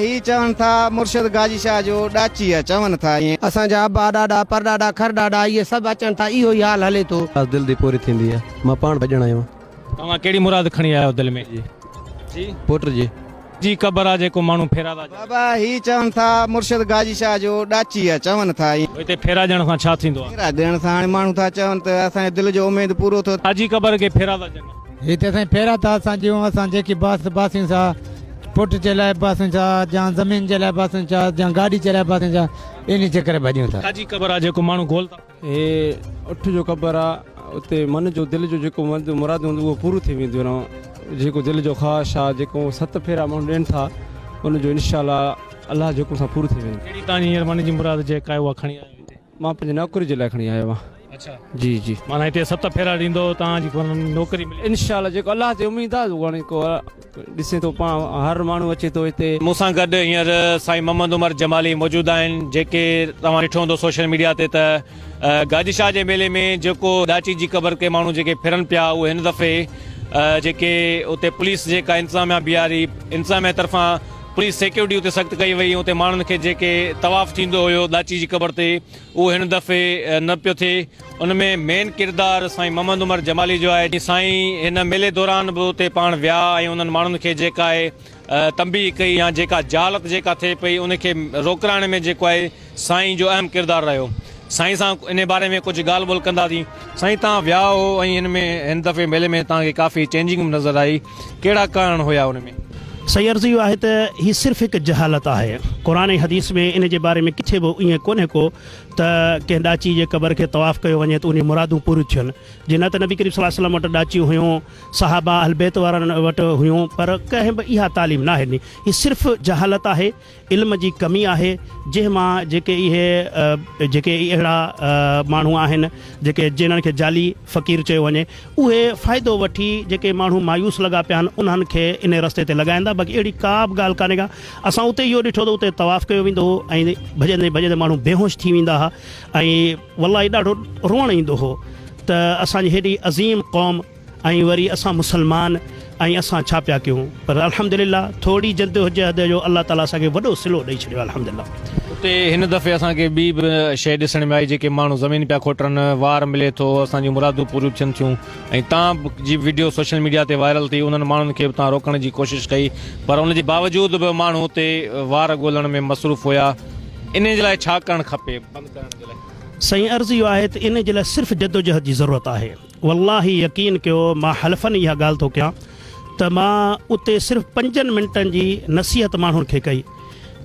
هي چون ٿا مرشد گاجي شاهه جو ڏاچيء چون ٿا ائين. اسان جا ابا ڏاڏا پرڏاڏا کرڏاڏا اهي سڀ اچن ٿا اهو ئي حال هلي ٿو. اداس دل دي پوري ٿيندي آ مان پاڻ ڀڄڻ آيو آ. توهان ڪهڙي مراد کڻي آيا آهيو دل ۾ جي جي پوٽ جي. جي قبر آ جيڪو ماڻهو ڦيرا ٿا ڄڻن. بابا هي چون ٿا مرشد گاجي شاهه جو ڏاچي آ چون ٿا ائين. پوء هتي ڦيرا ڏيڻ سان ڇا ٿيندو آ؟ ڦيرا ڏيڻ سان هاڻي ماڻهو ٿا چون ته اسان جي دل جو اميد پورو ٿو. آ جي قبر کي ڦيرا ٿا ڄنن. هي ته سائين ڦيرا ٿا اسان ڏيون اسان جيڪي باس باسيون سا پٽ جي لاء باسيون سا جان زمين جي لاء باسيون سا جان گاڏي جي لاء باسيون سا انهي چڪر ڀڄون ٿا. آ جي قبر آ جيڪو ماڻهو گول ٿا. هي اٺ جو قبر آ اتي من جو دل جو جيڪو مراد هوندو اهو پورو ٿي وينديون آن جيڪو دل جو خواهش آ جيڪو ست ڦيرا ماڻهو ڏين ٿا ان جو انشاء الله الله جي حڪم سان پورو ٿي ويندو. ڪهڙي توهان جي هينئر من جي مراد جيڪا آهي اها کڻي آيا آهيو هتي؟ مان پنهنجي نوڪري جي لاء کڻي آيو آهيان. اڇا جي جي. معنيٰ هتي ست ڦيرا ڏيندو توهان جي نوڪري ملي ويندي. انشاء الله جيڪو الله تي اميد آ هاڻي ڪو. ڏسين ٿو پاڻ هر ماڻهو اچي ٿو هتي. مون سان گڏ هينئر سائين محمد عمر جمالي موجود آهن جيڪي توهان ڏٺو هوندو سوشل ميڊيا تي ته گاجي شاهه جي ميلي ۾ جيڪو ڏاچي جي قبر تي ماڻهو جيڪي ڦرن پيا اهي هن دفعي جيڪي اتي پوليس جيڪا انتظاميا بيهاري انتظاميا طرفان پوليس سيڪيورٽي اتي سخت ڪئي وئي اتي ماڻهن کي جيڪي طواف ٿيندو هيو ڏاچي جي قبر تي اهو هن دفعي نه پيو ٿئي، ان ۾ مين ڪردار سائين محمد عمر جمالي جو آهي، سائين هن ميلي دوران به اتي پاڻ ويا ۽ انهن ماڻهن کي جيڪا آهي تنبيهه ڪئي يا جيڪا جهالت جيڪا ٿئي پئي ان کي روڪرائڻ ۾ جيڪو آهي سائين جو اهم ڪردار رهيو، سائين سان انهي باري ۾ ڪجهه ڳالهه ٻولهه ڪنداسين. سائين تان ويا هو ۽ هن ۾ هن دفعي ميلي ۾ تان کي ڪافي چينجنگ به نظر آئي. ڪهڙا ڪارڻ هيا ان ۾؟ صحيح عرض اهو آهي ته هي صرف هڪ جهالت آهي. قرآن ۽ حديث ۾ ان جي باري ۾ ڪٿي به ائين ڪونهي ڪو ته ڪنهن ڏاچي جي قبر کي طواف ڪيو وڃي ته انهيون مرادون پوريون ٿين. جي نه ته نبي ڪريم صلي الله عليه وسلم وٽ ڏاچيون هيون، صحابه اهل بيت وارن وٽ هيون پر ڪنهن به اها تعليم ناهي ڏني. هي صرف جهالت آهي. علم جي ڪمي آهي جنهن مان جيڪي اهي جيڪي اهڙا ماڻهو آهن جيڪي جنن کي جعلي فقير چيو وڃي اهي فائدو وٺي جيڪي ماڻهو مايوس لڳا پيا آهن انهن کي انهي رستي تي لڳائيندا باقي اهڙي ڪا به ڳالهه ڪانهي ڪا اسان اتي اهو ڏٺو ته اتي طواف ڪيو ويندو هو ۽ ڀڄندي ڀڄندي ماڻهو بيهوش ٿي ويندا ها ۽ والله ڏاڍو روئڻ ايندو هو ته اسان جي هيڏي عظيم قوم ۽ وري اسان مسلمان ۽ اسان ڇا پيا ڪيون پر الحمدلله ٿورڙي جدوجهد جو الله تعالي اسان کي وڏو صلو ڏئي ڇڏيو الحمدلله. اتي هن دفعي اسان کي ٻي به شيء ڏسڻ ۾ آئي جيڪي ماڻهو زمين پيا کوٽرن، وار ملي ٿو، اسان جون مرادون پوريون ٿين ٿيون ۽ تان به جي وڊيو سوشل ميڊيا تي وائرل ٿي انهن ماڻهن کي به تان روڪڻ جي ڪوشش ڪئي پر ان جي باوجود به ماڻهو اتي وار ڳولڻ ۾ مصروف هيا انهي جي لاء ڇا ڪرڻ کپي؟ سائين عرض اهو آهي ته انهي جي لاء صرف جدوجهد جي ضرورت آهي. والله يقين ڪيو مان حلفن اها ڳالهه ٿو ڪيان ته مان اتي صرف پنجن منٽن جي نصيحت ماڻهن کي ڪئي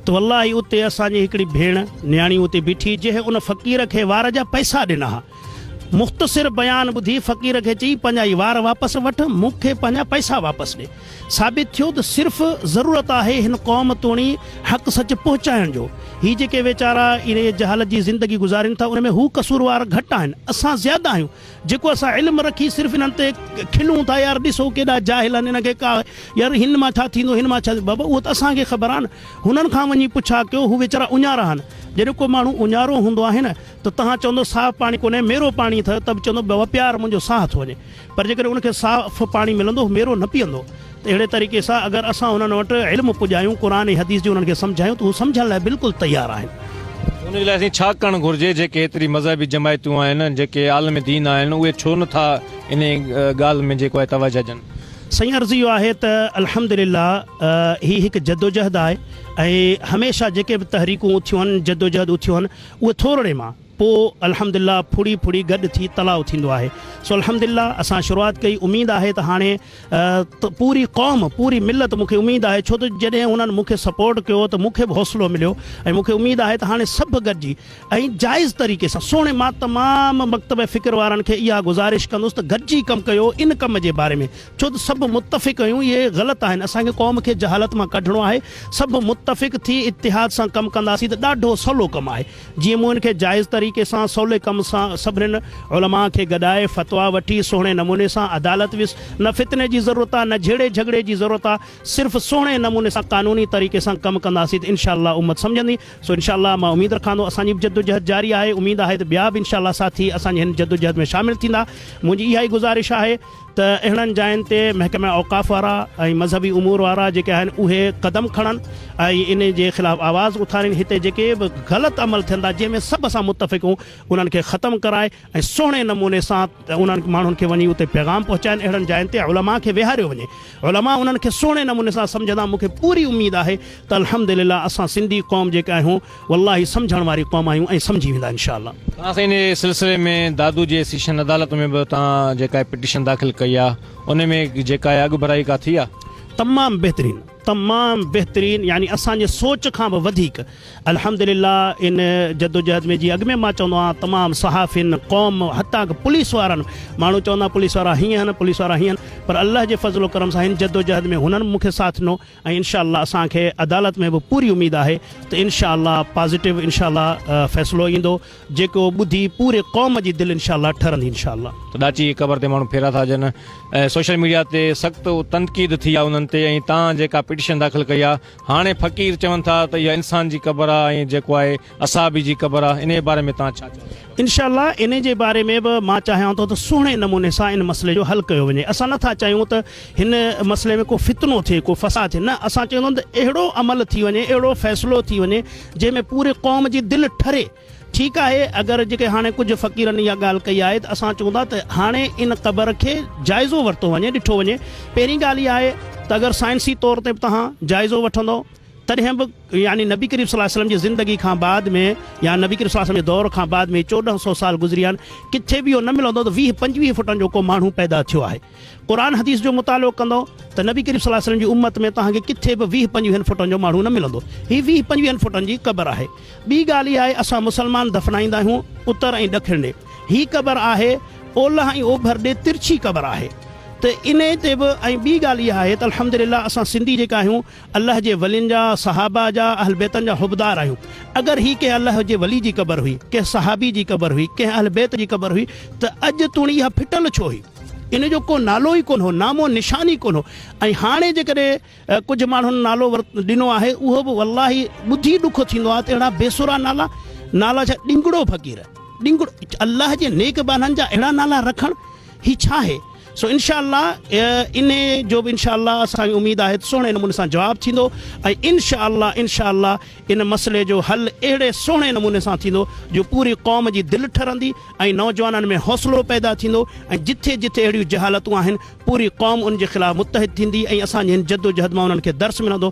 ته والله اتي اسان جي هڪڙي ڀيڻ نياڻي اتي بيٺي جنهن ان فقير کي وار جا پئسا ڏنا ها مختصر بيان ٻڌي فقير کي چئي پنهنجا هي وار واپس وٺ مون کي پنهنجا پئسا واپس ڏي. ثابت ٿيو ته صرف ضرورت آهي هن قوم توڻي حق سچ پهچائڻ جو. هي جيڪي ويچارا اهڙي جهالت جي زندگي گذارين ٿا ان ۾ هو قصوروار گهٽ آهن اسان زياده آهيون جيڪو اسان علم رکي صرف انهن تي کلون ٿا يار ڏسو ڪيڏا جاهل آهن انهن کي ڪا يار هن مان ڇا ٿيندو هن مان ڇا ٿيندو بابا اهو ته اسان کي خبر آهن هنن کان وڃي پڇا ڪيو هو ويچارا اڃارا آهن جڏهن ڪو ماڻهو اڃارو هوندو آهي نه ته توهان چوندو صاف پاڻي ڪونهي ميرو پاڻي اٿئي ته به چوندو بابا پيار منهنجو ساهه ٿو وڃي پر جيڪڏهن ان کي صاف پاڻي ملندو هو ميرو نه پيئندو ته اهڙي طريقي سان اگر اسان انهن وٽ علم پڄايون قرآن ۽ حديث جي انهن کي سمجهايون ته هو سمجهڻ لاء بلڪل تيار آهن. ته ان جي لاء اسين ڇا ڪرڻ گهرجي جيڪي ايتري مذهبي جماعتون آهن ۽ جيڪي عالم دين آهن اهي ڇو نه ٿا انهي ڳالهه ۾ جيڪو آهي توجهه ڏين. سائين عرض اهو آهي ته الحمدلله هي هڪ جدوجهد آهي ۽ هميشه جيڪي به تحريڪون اٿيون آهن جدوجهد اٿيون آهن اهي ٿورڙي مان. پوء الحمد لله ڦڙي ڦڙي گڏ ٿي تلاء ٿيندو آهي سو الحمد لله اسان شروعات ڪئي اميد آهي ته هاڻي ته پوري قوم پوري ملت مون کي اميد آهي ڇو ته جڏهن هنن مون کي سپورٽ ڪيو ته مون کي به حوصلو مليو ۽ مون کي اميد آهي ته هاڻي سڀ گڏجي ۽ جائز طريقي سان سهڻي مان تمام مڪتب فڪر وارن کي اها گذارش ڪندس ته گڏجي ڪم ڪيو ان ڪم جي باري ۾ ڇو ته سڀ متفق اهيون اهي غلط آهن اسان کي قوم کي جهالت مان ڪڍڻو آهي سڀ متفق ٿي اتحاد سان ڪم ڪنداسين ته ڏاڍو سولو ڪم آهي جيئن مون ان کي جائز طريقي سان سولي ڪم سان سڀنين علماء کي گڏائي فتويٰ وٺي سهڻي نموني سان عدالت ويس نه فتني جي ضرورت آ نه جهيڙي جهڳڙي جي ضرورت آ صرف سهڻي نموني سان قانوني طريقي سان ڪم ڪنداسين ته انشاء الله امت سمجهندي سو انشاء الله مان اميد رکان ٿو اسان جي به جدوجهد جاري آهي اميد آهي ته ٻيا به انشاء الله ساٿي اسان جي هن جدوجهد ۾ شامل ٿيندا منهنجي اها ئي گذارش آهي ته اهڙن جاين تي محڪمه اوقاف وارا ۽ مذهبي امور وارا جيڪي آهن اهي قدم کڻن ۽ انهي جي خلاف آواز اٿارين هتي جيڪي به غلط عمل ٿين ٿا جنهن ۾ سڀ اسان متفق هون انهن کي ختم ڪرائي ۽ سهڻي نموني سان انهن ماڻهن کي وڃي اتي پيغام پهچائين اهڙن جاين تي علماء کي ويهاريو وڃي علماء انهن کي سهڻي نموني سان سمجهندا مونکي پوري اميد آهي ته الحمدلله اسان سنڌي قوم جيڪي آهيون والله سمجهڻ واري قوم آهيون ۽ سمجهي ويندا انشاء الله. ها سائين انهي سلسلي ۾ دادو جي سيشن عدالت ۾ به توهان جيڪا پٽيشن داخل ڪئي آ انهي ۾ جيڪا اڳ ڀرائي ڪا ٿي آ؟ تمام بهترين تمام بهترين يعني اسان جي سوچ کان به وڌيڪ الحمدلله ان جدوجهد ۾ جي اڳ ۾ مان چوندو آهيان تمام صحافين قوم حتان ڪه پوليس وارن ماڻهو چوندا پوليس وارا هيئن هن پوليس وارا هيئن پر الله جي فضل و ڪرم سان هن جدوجهد ۾ هنن مونکي ساٿ ڏنو ۽ انشاء الله اسان کي عدالت ۾ به پوري اميد آهي ته انشاء الله پازيٽو انشاء الله فيصلو ايندو جيڪو ٻڌي پوري قوم جي دل انشاء الله ٺرندي انشاء الله. ته ڏاچي جي قبر تي ماڻهو ڦيرا ٿا ڏين ۽ سوشل ميڊيا تي سخت تنقيد ٿي آ انهن تي ۽ تان جيڪا پٽيشن داخل ڪئي آ هاڻي فقير چون ٿا ته اها انسان جي قبر آ ۽ جيڪو آهي اصحابي جي قبر آ انهي باري ۾ توهان ڇا چئو ٿا؟ انشاء الله انهي جي باري ۾ به مان چاهيان ٿو ته سهڻي نموني سان ان مسئلي جو حل ڪيو وڃي اسان نٿا چاهيون ته هن مسئلي ۾ ڪو فتنو ٿئي ڪو فساد ٿئي نه اسان چاهيون ٿا ته اهڙو عمل ٿي وڃي اهڙو فيصلو ٿي وڃي جنهن ۾ پوري قوم جي دل ٺري ٺيڪ آهي اگر جيڪي هاڻي ڪجهه فقيرن اها ڳالهه ڪئي آهي ته اسان چئون ٿا ته هاڻي ان قبر کي جائزو ورتو وڃي ڏٺو وڃي پهرين ڳالهه اها آهي ته اگر سائنسي طور تي به توهان جائزو وٺندو تڏهن به يعني نبي ڪريم صلي الله عليه وسلم جي زندگي کان بعد ۾ يا نبي ڪريم صلي الله عليه وسلم جي دور کان بعد ۾ چوڏهن سئو سال گذري ويا آهن ڪٿي به اهو نه ملندو ته ويهه پنجويهه فٽن جو ڪو ماڻهو پيدا ٿيو آهي قرآن حديث جو مطالعو ڪندو ته نبي ڪريم صلي الله عليه وسلم جي امت ۾ توهان کي ڪٿي به ويهه پنجويهن فٽن جو ماڻهو نه ملندو هي ويهه پنجويهن فٽن جي قبر آهي ٻي ڳالهه اها آهي اسان مسلمان دفنائيندا آهيون اتر ۽ ڏکڻ ڏي هي قبر آهي اولهه ۽ اوڀر ڏي ترڇي قبر آهي ته انهي تي به ۽ ٻي ڳالهه اها آهي ته الحمدلله اسان سنڌي جيڪا آهيون الله جي ولين جا، صحابه جا، اهل بيتن جا حبدار آهيون. اگر هي ڪنهن الله جي ولي جي قبر هئي، ڪنهن صحابي جي قبر هئي، ڪنهن اهل بيت جي قبر هئي ته اڄ توڻي اها ڦٽل ڇو هئي؟ ان جو ڪو نالو ئي ڪونه هو، نام و نشان ئي ڪونه هو ۽ هاڻي جيڪڏهن ڪجهه ماڻهن نالو ڏنو آهي اهو به والله ٻڌي ڏک ٿيندو آهي ته اهڙا بي سرا نالا، نالا ڇا ڏنگڙو فقير، ڏنگڙو الله جي نيڪ بانهن جا اهڙا نالا رکڻ هي ڇا آهي؟ سو انشاء الله انهي جو به انشاء الله اسان کي اميد آهي ته سهڻي نموني سان جواب ٿيندو ۽ انشاء الله انشاء الله ان مسئلي جو حل اهڙي سهڻي نموني سان ٿيندو جو پوري قوم جي دل ٺرندي ۽ نوجوانن ۾ حوصلو پيدا ٿيندو ۽ جٿي جٿي اهڙيون جهالتون آهن پوري قوم ان جي خلاف متحد ٿيندي ۽ اسان جي هن جدوجهد مان انهن کي درس ملندو